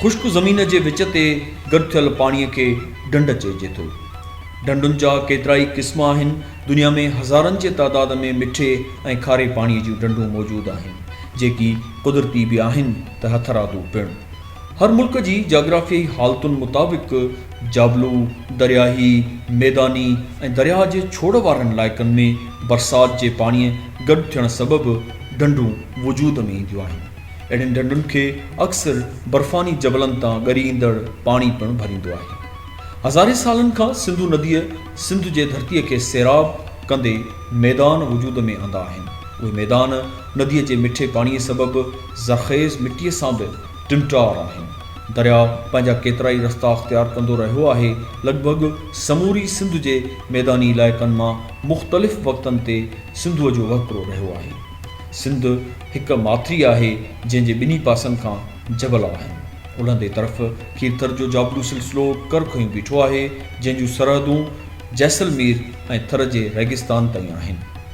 خشڪ زمين جي وچ تي گڏ ٿيل پاڻي کي ڍنڍ چئجي ٿو. ڍنڍن جا ڪيترائي قسم آهن. دنيا ۾ هزارن جي تعداد ۾ مٺي ۽ کاري پاڻي جون ڍنڍون موجود آهن، جيڪي قدرتي به آهن ته هٿرادو پڻ. هر ملڪ جي جاگرافيائي حالتن مطابق جابلو، درياهي، ميداني ۽ درياهه جي ڇوڙ وارن علائقن ۾ برسات جي پاڻيء گڏ ٿيڻ سبب ڍنڍون وجود ۾ اينديون آهن. اهڙين ڍنڍن کي اڪثر برفاني جبلن تان ڳري ايندڙ پاڻي پڻ ڀريندو آهي. هزارين سالن کان سنڌو نديء سنڌ جي ڌرتيء کي سيراب ڪندي ميدان وجود ۾ آندا آهن. اهي ميدان نديء جي مٺي پاڻيء سبب زرخيز مٽيء سان به ٽنٽار آهن. درياء پنهنجا ڪيترائي رستا اختيار ڪندو رهيو آهي. لڳ ڀڳ سموري سنڌ جي ميداني علائقن مان مختلف وقتن تي سنڌوء جو وهڪرو رهيو آهي. سنڌ هڪ ماٿري آهي، جنهن جي ٻنهي پاسن کان جبل آهن. الهندي طرف کيرٿر جو جابلو سلسلو ڪر کنيو بيٺو آهي، جنهن جون سرحدون جيسلمير ۽ ٿر جي ريگستان تائين آهن.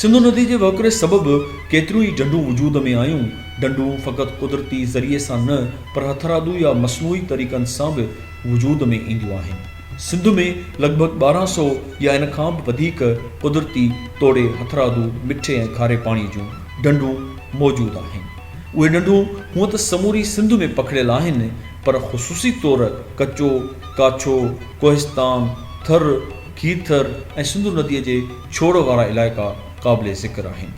سنڌو ندي جي وهڪري سبب ڪيتريون ئي ڍنڍون وجود ۾ آيون. ڍنڍون فقط قدرتي ذريعي سان نه پر هٿرادو يا مصنوعي طريقن سان به وجود ۾ اينديون آهن. سنڌ ۾ لڳ ڀڳ ٻارهن سؤ يا ان کان به وڌيڪ قدرتي توڙي هٿرادو، مٺي ۽ کاري پاڻي جون ڍنڍون موجود آهن. اهي ڍنڍون هونئن ته سموري سنڌ ۾ پکڙيل آهن پر خصوصي طور ڪچو، ڪاڇو، ڪوهستان، ٿر، کيرٿر ۽ سنڌو نديء جي ڇوڙ وارا علائقا قابل ذڪر آهن.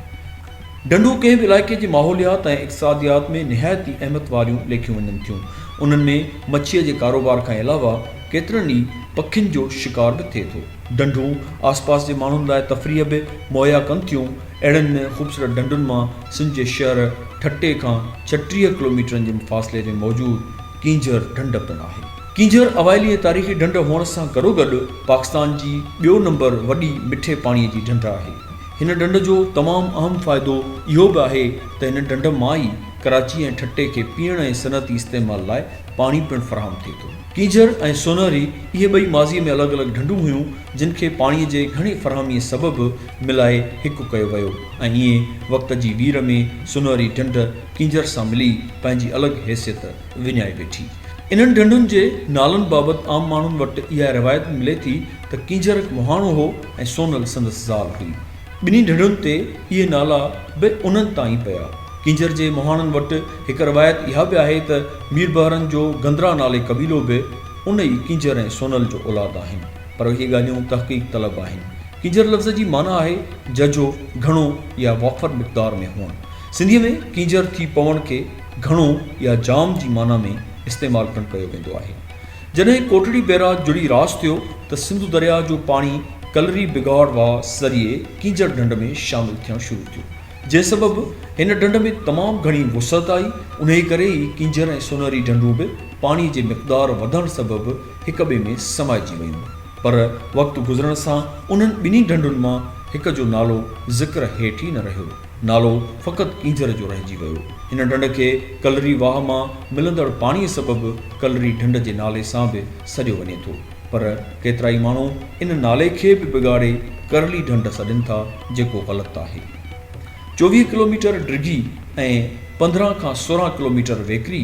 ڍنڍون ڪنهن به علائقي جي ماحوليات ۽ اقتصاديات ۾ نهايت ئي اهميت واريون ليکيون وڃن ٿيون. انهن ۾ مڇيء جي ڪاروبار کان علاوه ڪيترن ئي پکين جو شڪار به ٿئي ٿو. ڍنڍون آسپاس جي ماڻهن لاء تفريح به مهيا ڪن ٿيون. اهڙن خوبصورت ڍنڍن مان سنڌ جي شهر ٺٽي کان ڇٽيهه ڪلوميٽرن جي فاصلي تي موجود ڪينجهر ڍنڍ پڻ آهي. ڪينجهر اوائلي ۽ تاريخي ڍنڍ هئڻ سان گڏوگڏ پاڪستان جي ٻيو نمبر وڏي مٺي پاڻي جي ڍنڍ آهي. هن ڍنڍ جو تمام اهم فائدو اهو به آهي ته هن ڍنڍ مان ئي ڪراچي ۽ ٺٽي کي پيئڻ ۽ صنعتي استعمال لاء پاڻي پڻ فراهم ٿئي ٿو. ڪينجهر ۽ سونهري اهي ٻئي ماضيء ۾ الڳ الڳ ڍنڍون هيون، جن کي پاڻيء جي گهڻي فراهميء سبب ملائي هڪ ڪيو ويو ۽ ائين وقت جي وير ۾ سونهري ڍنڍ ڪينجهر سان ملي پنهنجي الڳ حيثيت وڃائي ويٺي. انهن ڍنڍن جي نالن بابت عام ماڻهن وٽ اها روايت به ملي ٿي ته ڪينجهر هڪ مهاڻو هو ۽ سونهل سندس زال هئي. ٻنهي ڍڙن تي اهي نالا به انهن تان ئي پيا. ڪينجهر جي مهاڻن وٽ هڪ روايت اها به آهي ته ميربحرن جو گندرا نالي قبيلو به ان ئي ڪينجهر ۽ سونل جو اولاد آهن. پر اهي ڳالهيون تحقيق طلب آهن. ڪينجهر لفظ جي معنيٰ آهي ججهو، گهڻو يا وافر مقدار ۾ هئڻ. سنڌيء ۾ ڪينجهر ٿي پوڻ کي گهڻو يا جام جي معنيٰ ۾ استعمال پڻ ڪيو ويندو آهي. جڏهن ڪوٽڙي بيراج جڙي راس ٿيو ته سنڌو درياهه جو پاڻي ڪلري بگاڙ واهه ذريعي ڪينجهر ڍنڍ ۾ شامل ٿيڻ شروع ٿيو جنهن سبب هن ڍنڍ ۾ تمام گهڻي وسعت آئي انهي ڪري ئي ڪينجهر ۽ سونهري ڍنڍون به پاڻي جي مقدار وڌڻ سبب هڪ ٻئي ۾ سمائجي ويون پر وقت گذرڻ سان انهن ٻنهي ڍنڍن مان هڪ جو نالو ذڪر هيٺ ئي نه رهيو. نالو فقط اينجهر جو رهجي ويو. هن ڍنڍ کي ڪلري واهه مان ملندڙ پاڻيء سبب ڪلري ڍنڍ جي نالي سان به سڏيو وڃي ٿو. پر ڪيترائي ماڻهو ان نالي کي به بگاڙي ڪرلي ڍنڍ سڏين ٿا، جيڪو غلط آهي. چوويهه ڪلوميٽر ڊگهي ۽ پندرهن کان سورهن ڪلوميٽر ويڪري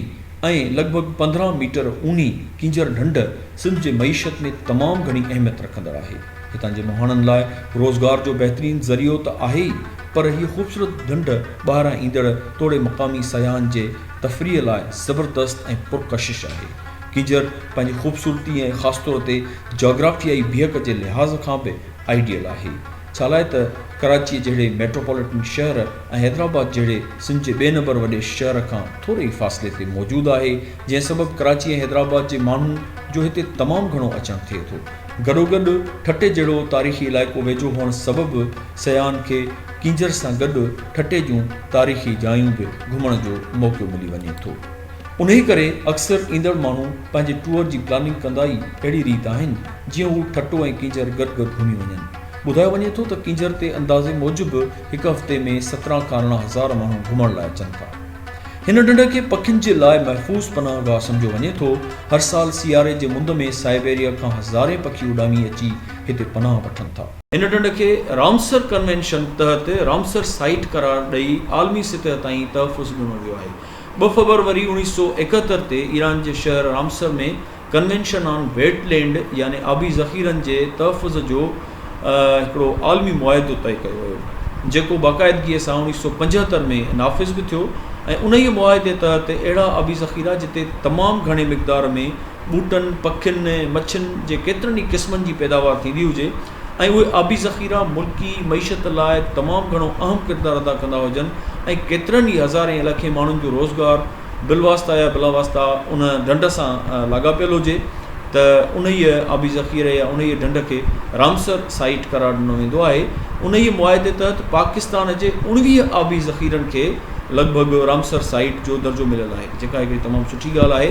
۽ لڳ ڀڳ پندرهن ميٽر اونهي ڪينجهر ڍنڍ سنڌ جي معيشت ۾ تمام گهڻي اهميت رکندڙ آهي. هتان جي مهاڻن لاء روزگار جو بهترين ذريعو ته آهي ئي پر هيء خوبصورت ڍنڍ ٻاهران ايندڙ توڙي مقامي سياحن جي تفريح لاء زبردست ۽ پرڪشش آهي. ڪينجهر پنهنجي خوبصورتي ۽ خاص طور تي جاگرافيائي بيهڪ جي لحاظ کان به آئيڊيل آهي. ڇالاء ته ڪراچيء جهڙي ميٽروپوليٽن شهر ۽ حيدرآباد جهڙي سنڌ جي ٻئي نمبر وڏي شهر کان ٿوري ئي فاصلي تي موجود آهي جنهن سبب ڪراچي ۽ حيدرآباد جي ماڻهن جو هتي تمام گهڻو اچڻ ٿئي ٿو. گڏوگڏ ٺٽي جهڙو تاريخي علائقو ويجهو هئڻ سبب سياحن کي ڪينجهر سان گڏ ٺٽي جون تاريخي جايون به گهمڻ جو موقعو ملي وڃي ٿو. انهي ڪري اڪثر ايندڙ ماڻهو پنهنجي ٽوئر جي پلاننگ ڪندا ئي اهڙي ريت آهن جيئن هو ٺٽو ۽ ڪينجهر گڏ گڏ گهمي وڃن. ٻڌايو وڃي ٿو ته ڪينجهر تي اندازي موجب هڪ هفتي ۾ سترهن کان ارڙهن هزار ماڻهو گهمڻ لاء اچن ٿا. هن ڍنڍ کي پکين جي لاء محفوظ پناهه گاهه سمجهيو وڃي ٿو. هر سال سياري جي مند ۾ سائبيريا کان هزارين پکي اڏامي اچي هتي پناهه وٺن ٿا. هن ڍنڍ کي رامسر ڪنوينشن تحت رامسر سائيٽ قرار ڏئي عالمي سطح تائين تحفظ ڏنو ويو آهي. ٻه فبروري اوڻيھ سؤ ايڪهتر تي ايران جي شهر Ramsar ۾ convention on wetland يعني آبي ذخيرن جي تحفظ جو هڪڙو عالمي معاهدو طئي ڪيو ويو، جيڪو باقاعدگيء سان اوڻيهه سؤ پنجهتر ۾ نافذ به ٿيو ۽ انهيء معاهدي تحت اهڙا آبي ذخيرا جتي تمام گهڻي مقدار ۾ ٻوٽن، پکين ۽ مڇين جي ڪيترن ئي قسمن جي پيداوار ٿيندي هجي ۽ اهي آبي ذخيرا ملڪي معيشت لاء تمام گهڻو اهم ڪردار ادا ڪندا هجن ۽ ڪيترن ئي هزارين ۽ لکين ماڻهن جو روزگار بالواسطه يا بلا واسطه ان ڍنڍ سان لاڳاپيل هجي ته انهيء آبي ذخيري يا انهيء ڍنڍ کي رامسر سائيٽ قرار ڏنو ويندو آهي. انهيء معاهدي تحت پاڪستان جي اوڻويهه آبي ذخيرن کي لڳ ڀڳ رامسر سائيٽ جو درجو مليل آهي، جيڪا هڪڙي تمام سٺي ڳالهه آهي.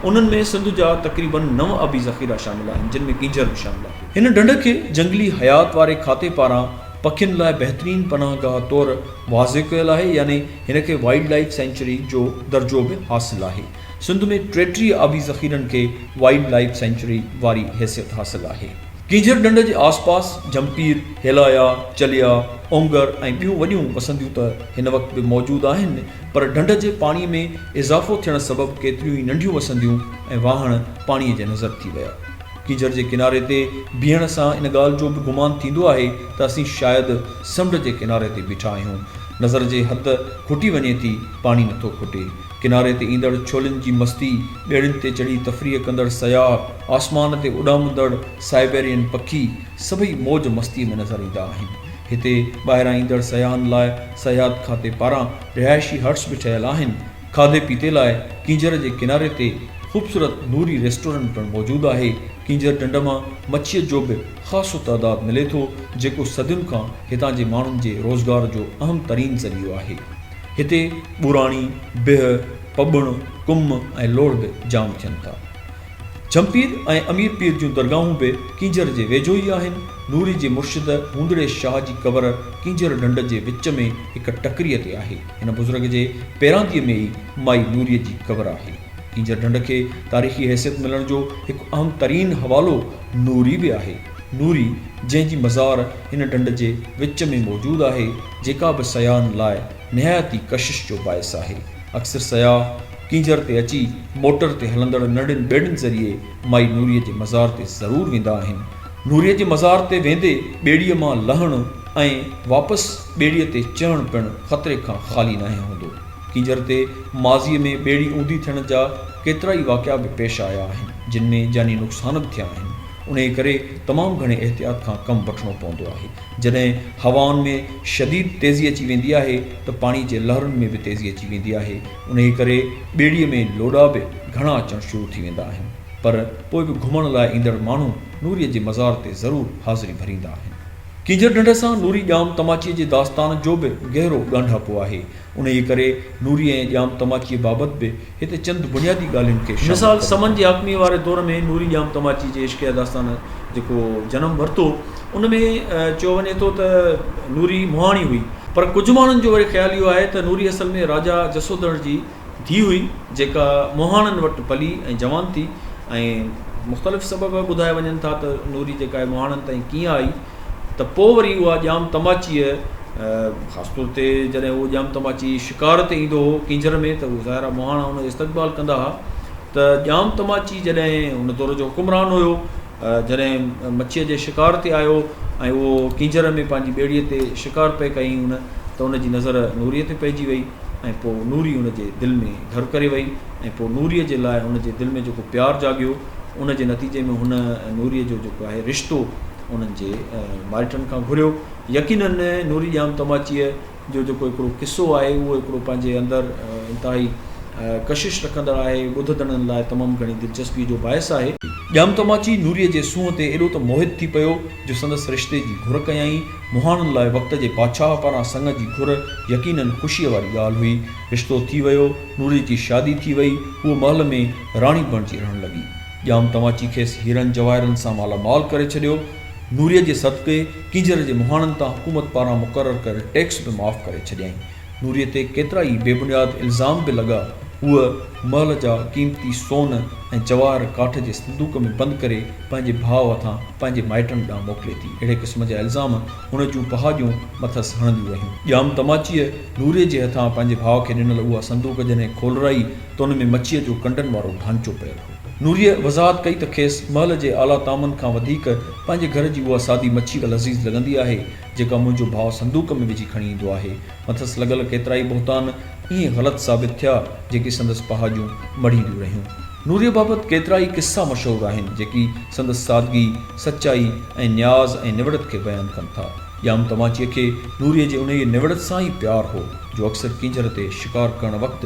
انهن ۾ سنڌ جا تقريباً نو آبي ذخيرا شامل آهن، جن ۾ ڪينجهر به شامل آهي. هن ڍنڍ کي جهنگلي حيات واري کاتي پاران پکين لاء بهترين پناهگاهه طور واضع ڪيل آهي، يعني هن کي وائلڊ لائيف سينچري جو درجو به حاصل آهي. سنڌ ۾ ٽيٽيهه آبي ذخيرن کي وائلڊ لائيف سينچري واري حيثيت حاصل آهي. ڪينجهر ڍنڍ جي آس پاس جهمپير، هيلايا، چليا، اونگر ۽ ٻيون وڏيون وسنديون ته هن وقت به موجود آهن پر ڍنڍ جي پاڻي ۾ اضافو ٿيڻ سبب ڪيتريون ئي ننڍيون وسنديون ۽ واهڻ پاڻي جي نظر ٿي ويا. ڪينجهر جي ڪناري تي بيهڻ سان ان ڳالهه جو به گمان ٿيندو آهي ته اسين شايد سمنڊ جي ڪناري تي بيٺا آهيون. نظر جي حد کٽي وڃي ٿي، پاڻي نٿو کٽي. ڪناري تي ايندڙ ڇولين جي مستي، ٻيڙين تي چڙهي تفريح ڪندڙ سياح، آسمان تي اڏامندڙ سائبيرين پکي، سڀئي موج مستيء ۾ نظر ايندا آهن. هتي ٻاهران ايندڙ سياحن لاء سياحت کاتي پاران رهائشي هٽس به ٺهيل آهن. کاڌي پيتي لاء ڪينجهر جي ڪناري تي خوبصورت نوري ريسٽورنٽ پڻ موجود آهي. ڪينجهر ڍنڍ مان مڇيء جو به خاصو تعداد ملي ٿو جيڪو صدين کان هتان جي ماڻهن جي روزگار جو اهم ترين ذريعو آهي. هتي ٻوراڻي، بهه، پٻڻ، ڪم ۽ لوڙهه به جام ٿين ٿا. جهمپير ۽ امير پير جون درگاهون به ڪينجهر جي ويجهو ئي آهن. نوري جي مرشد هوندڙي شاهه جي قبر ڪينجهر ڍنڍ جي وچ ۾ هڪ ٽڪريء تي آهي. هن بزرگ جي پيرانديء ۾ ئي مائي نوريء جي قبر آهي. ڪينجهر ڍنڍ کي تاريخي حيثيت ملڻ جو هڪ اهم ترين حوالو نوري به آهي. نوري، جنهن جي مزار هن ڍنڍ جي وچ ۾ موجود آهي، جيڪا به سياحن لاء نهايت ئي ڪشش جو باعث آهي. اڪثر سياح ڪينجهر تي اچي موٽر تي هلندڙ ننڍين ٻيڙين ذريعي مائي نوري جي مزار تي ضرور ويندا آهن. نوري جي مزار تي ويندي ٻيڙيء مان لهڻ ۽ واپس ٻيڙيء تي چڙهڻ پڻ خطري کان خالي ناهي هوندو. ڪينجهر تي ماضي ۾ ٻيڙي اونڌي ٿيڻ جا ڪيترا ئي واقعا به پيش آيا آهن، جن ۾ جاني نقصان به ٿيا آهن، انهيء ڪري تمام گهڻي احتياط کان ڪم وٺڻو پوندو آهي، جڏهن هوائن ۾ شديد تيزي اچي ويندي آهي ته پاڻي جي لهرن ۾ به تيزي اچي ويندي آهي، انهيء ڪري ٻيڙيء ۾ لوڏا به گهڻا اچڻ شروع ٿي ويندا آهن، پر پوء به گهمڻ لاء ايندڙ ماڻهو نوريء جي مزار تي ضرور حاضري ڀريندا آهن. ڪينجهر ڍنڍ سان نوري ڄام تماچيء جي داستان جو به گهرو ڳانڍاپو آهي، انهيء ڪري نوريء ۽ ڄام تماچيء بابت به هت چند بنيادي ڳالهين کي شامل مثال، ڪري. سمن جي حاڪميء واري دور ۾ نوري ڄام تماچي جي عشقيه داستان جيڪو جنم ورتو، ان ۾ چيو وڃي ٿو ته نوري مهاڻي هئي، پر ڪجهه ماڻهن جو وري خيال اهو آهي ته نوري اصل ۾ راجا جسوڌڻ جي ڌيء هئي، جيڪا مهاڻن وٽ پلي ۽ جوان ٿي ۽ مختلف سبب ٻڌايا وڃن ٿا ته نوري جيڪا آهي مهاڻن تائين ڪيئن آئي. ته پوء وري اها ڄام تماچيء خاص طور تي جڏهن اهو ڄام تماچي شڪار تي ايندو هو ڪينجهر ۾ ته ظاهرا مهاڻا ان جو استقبال ڪندا هئا ته ڄام تماچي جڏهن ان دور جو حڪمران هيو جڏهن مڇيء جي شڪار تي آيو ۽ اهو ڪينجهر ۾ پنهنجي ٻيڙيء تي شڪار پئي ڪيائين ان ته ان جي نظر نوريء تي پئجي وئي ۽ پوء نوري ان جي دل ۾ گهر ڪري وئي ۽ پوء نوريء جي لاء ان جي دل ۾ جيڪو پيار جاڳيو ان جي نتيجي ۾ هن نوريء جو جيڪو آهي رشتو انهن جي مائٽن کان گهريو يقينن نوري ڄام تماچيء جو جيڪو هڪڙو قصو آهي اهو هڪڙو پنهنجي اندر انتهائي ڪشش رکندڙ آهي ٻڌندڙن لاء تمام گهڻي دلچسپيء جو باعث آهي. ڄام تماچي نوريء جي سونهن تي ايڏو ته موهت ٿي پيو جو سندس رشتي جي گهر ڪيائين. مهاڻن لاء وقت جي بادشاهه پاران سڱ جي گهر يقينن خوشيء واري ڳالهه هئي. رشتو ٿي ويو. نوريء جي شادي ٿي وئي. هوء محل ۾ راڻي بڻجي رهڻ لڳي. ڄام تماچي کيس هيرن جواهرن سان مالا مال ڪري ڇڏيو. نوريء جي صدقي ڪينجهر جي مهاڻن تان حڪومت پاران مقرر ڪيل ٽيڪس به معاف ڪري ڇڏيائين. نوريء تي ڪيترا ئي بي بنياد الزام به لڳا. هوء محل جا قيمتي سون ۽ جواهر ڪاٺ جي صندوق ۾ بند ڪري پنهنجي ڀاء هٿان پنهنجي مائٽن ڏانهن موڪلي ٿي. اهڙي قسم جا الزام هن جون پهاڄون مٿس هڻنديون رهيون. ڄام تماچيء نوريء جي هٿان پنهنجي ڀاء کي ڏنل اها صندوق جڏهن کولرائي، ته ان ۾ مڇيء جو ڪنڊن وارو ڍانچو پيل هو. نوريء وضاحت ڪئي ته کيس محل جي اعليٰ طعامن کان وڌيڪ پنهنجي گهر جي اها سادي مڇي لذيذ لڳندي آهي، جيڪا منهنجو ڀاء صندوق ۾ وجهي کڻي ايندو آهي. مٿس لڳل ڪيترائي بهتان ائين غلط ثابت ٿيا، جيڪي سندس پهاڄون مڙهينديون رهيون. نوريء بابت ڪيترائي قصا مشهور آهن، جيڪي سندس سادگي، سچائي ۽ نياز ۽ نوڙت کي بيان ڪن ٿا. ڄام تماچيء کي نوريء جي انهيء نوڙت سان ئي پيار هو، جو اڪثر ڪينجهر تي شڪار ڪرڻ وقت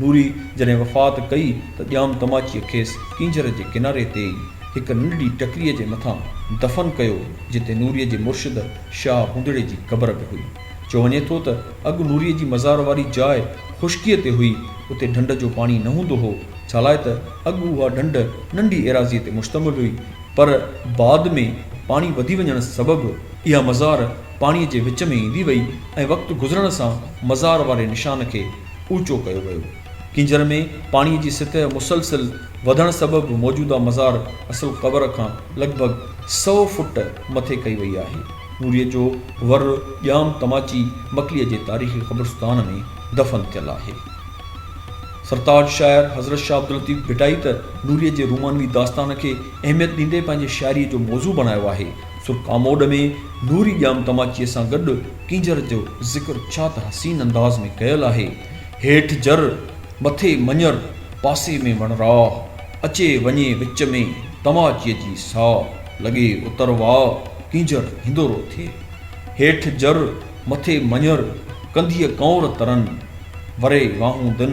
نوري جڏهن وفات ڪئي ته ڄام تماچيء کيس ڪينجهر جي ڪناري تي ئي هڪ ننڍڙي ٽڪريء جي مٿان دفن ڪيو، جتي نوريء جي مرشد شاهه هوندڙي جي قبر به هئي. چيو وڃي ٿو ته اڳ نوريء جي مزار واري جاء خشڪيء تي هئي، اتي ڍنڍ جو پاڻي نه هوندو هو، ڇالاء ته اڳ اها ڍنڍ ننڍي ايراضيء تي مشتمل هئي، پر بعد ۾ پاڻي وڌي وڃڻ سبب، اها مزار پاڻيء جي وچ ۾ ايندي وئي ۽ وقت گذرڻ سان مزار واري نشان کي اوچو ڪيو ويو. ڪينجهر ۾ پاڻي جي سطح مسلسل وڌڻ سبب موجوده مزار اصل قبر کان لڳ ڀڳ سؤ فوٽ مٿي ڪئي وئي آهي. نوريء جو ور ڄام تماچي مڪليء جي تاريخي قبرستان ۾ دفن ٿيل آهي. سرتاج شاعر حضرت شاهه عبداللطيف ڀٽائي ته نوريء جي رومانوي داستان کي اهميت ڏيندي پنهنجي شاعريء جو موضوع بڻايو آهي. سو ڪاموڏ ۾ نوري ڄام تماچيء سان گڏ ڪينجهر جو ذڪر ڇا ته حسين انداز ۾ ڪيل آهي، هيٺ جر، مٿي مڃر، پاسي ۾ وڻراهه، اچي وڃي وچ ۾ تماچيء جي ساهه، لڳي اتر واهه، ڪينجهر هندورو ٿئي. هيٺ جر، مٿي مڃر، ڪنڌيء ڪنور ترن، وري واهون دن.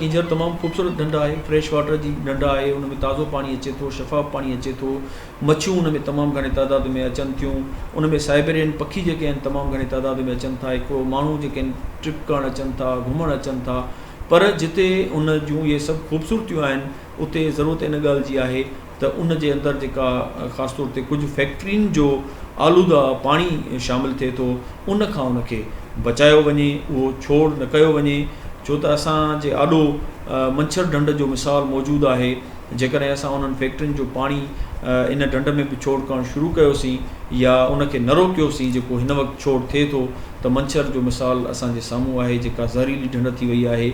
ڪينجهر تمام خوبصورت ڍنڍ آهي، فريش واٽر جي ڍنڍ آهي، ان ۾ تازو پاڻي اچي ٿو، شفاف پاڻي اچي ٿو، مڇيون ان ۾ تمام گهڻي تعداد ۾ اچن ٿيون، ان ۾ سائبيرين پکي جيڪي آهن تمام گهڻي تعداد ۾ اچن ٿا، هڪڙو ماڻهو جيڪي آهن ٽرپ ڪرڻ اچن ٿا، گهمڻ اچن ٿا، پر جتي ان جون اهي سڀ خوبصورتيون آهن. اتي ضرورت ان ڳالهه جي آهي ته ان جي اندر جيڪا خاص طور تي ڪجهه فيڪٽرين جو آلوده پاڻي شامل ٿئي ٿو ان کان ان کي بچايو وڃي اهو ڇوڙ نه ڪيو وڃي ڇو ته اسان جي آڏو منڇر ڍنڍ جو مثال موجود آهي جيڪڏهن اسان انهن فيڪٽرين جو پاڻي ان ڍنڍ ۾ به ڇوڙ ڪرڻ شروع ڪيوسين يا ان کي نه روڪيوسين جيڪو هن وقت ڇوڙ ٿئي ٿو ته منڇر جو مثال اسان جي سامهون آهي جيڪا زهريلي ڍنڍ ٿي وئي آهي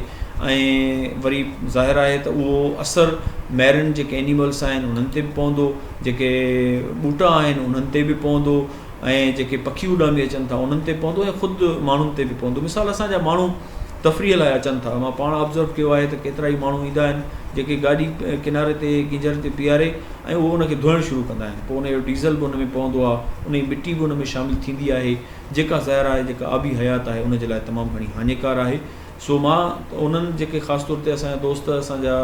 ۽ وري ظاهر آهي ته اهو اثر ميرين جيڪي اينيملس آهن انهن تي به پوندو جيڪي ٻوٽا آهن انهن تي به پوندو ۽ جيڪي پکي اڏامي اچن ٿا انهن تي پوندو ۽ خود ماڻهن تي به پوندو مثال اسان جا ماڻهو تفريح لاء اچن ٿا مان پاڻ آبزرو ڪيو آهي ته ڪيترا ئي ماڻهو ايندا آهن جيڪي گاڏي ڪناري تي گينجهر تي بيهاري ۽ اهو ان کي ڌوئڻ شروع ڪندا آهن پوء ان جو ڊيزل به ان ۾ پوندو آهي ان جي مٽي به ان ۾ شامل ٿيندي آهي جيڪا زهر آهي، جيڪا آبي حيات آهي، ان جي لاء تمام گهڻي هاڃيڪار آهي. سو مان انهن جيڪي خاص طور تي اسان جا دوست اسان جا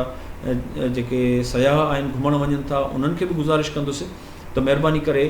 جيڪي سياح آهن گهمڻ وڃن ٿا انهن کي به گذارش ڪندس ته مهرباني ڪري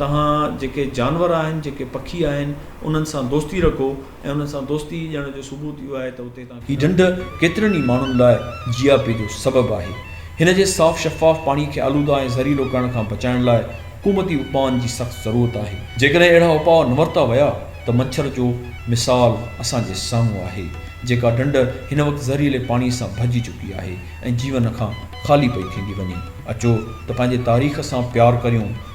توهان جيڪي جانور آهن جيڪي پکي آهن انهن سان دوستي رکو ۽ انهن سان دوستي ڄڻ جو ثبوت اهو آهي ته اتي هي ڍنڍ ڪيترن ئي ماڻهن لاء جياپي جو سبب آهي. هن جي صاف شفاف پاڻي کي آلوده ۽ زهريلو ڪرڻ کان بچائڻ لاء حڪومتي اپائن جي سخت ضرورت آهي. جيڪڏهن اهڙا اپاء نه ورتا ويا ته مڇر جو مثال اسان جي سامهون آهي، جيڪا ڍنڍ هن وقت زهريلي پاڻي سان ڀرجي چڪي آهي ۽ جيون کان خالي پئي ٿيندي وڃي. اچو ته پنهنجي تاريخ سان پيار ڪريون.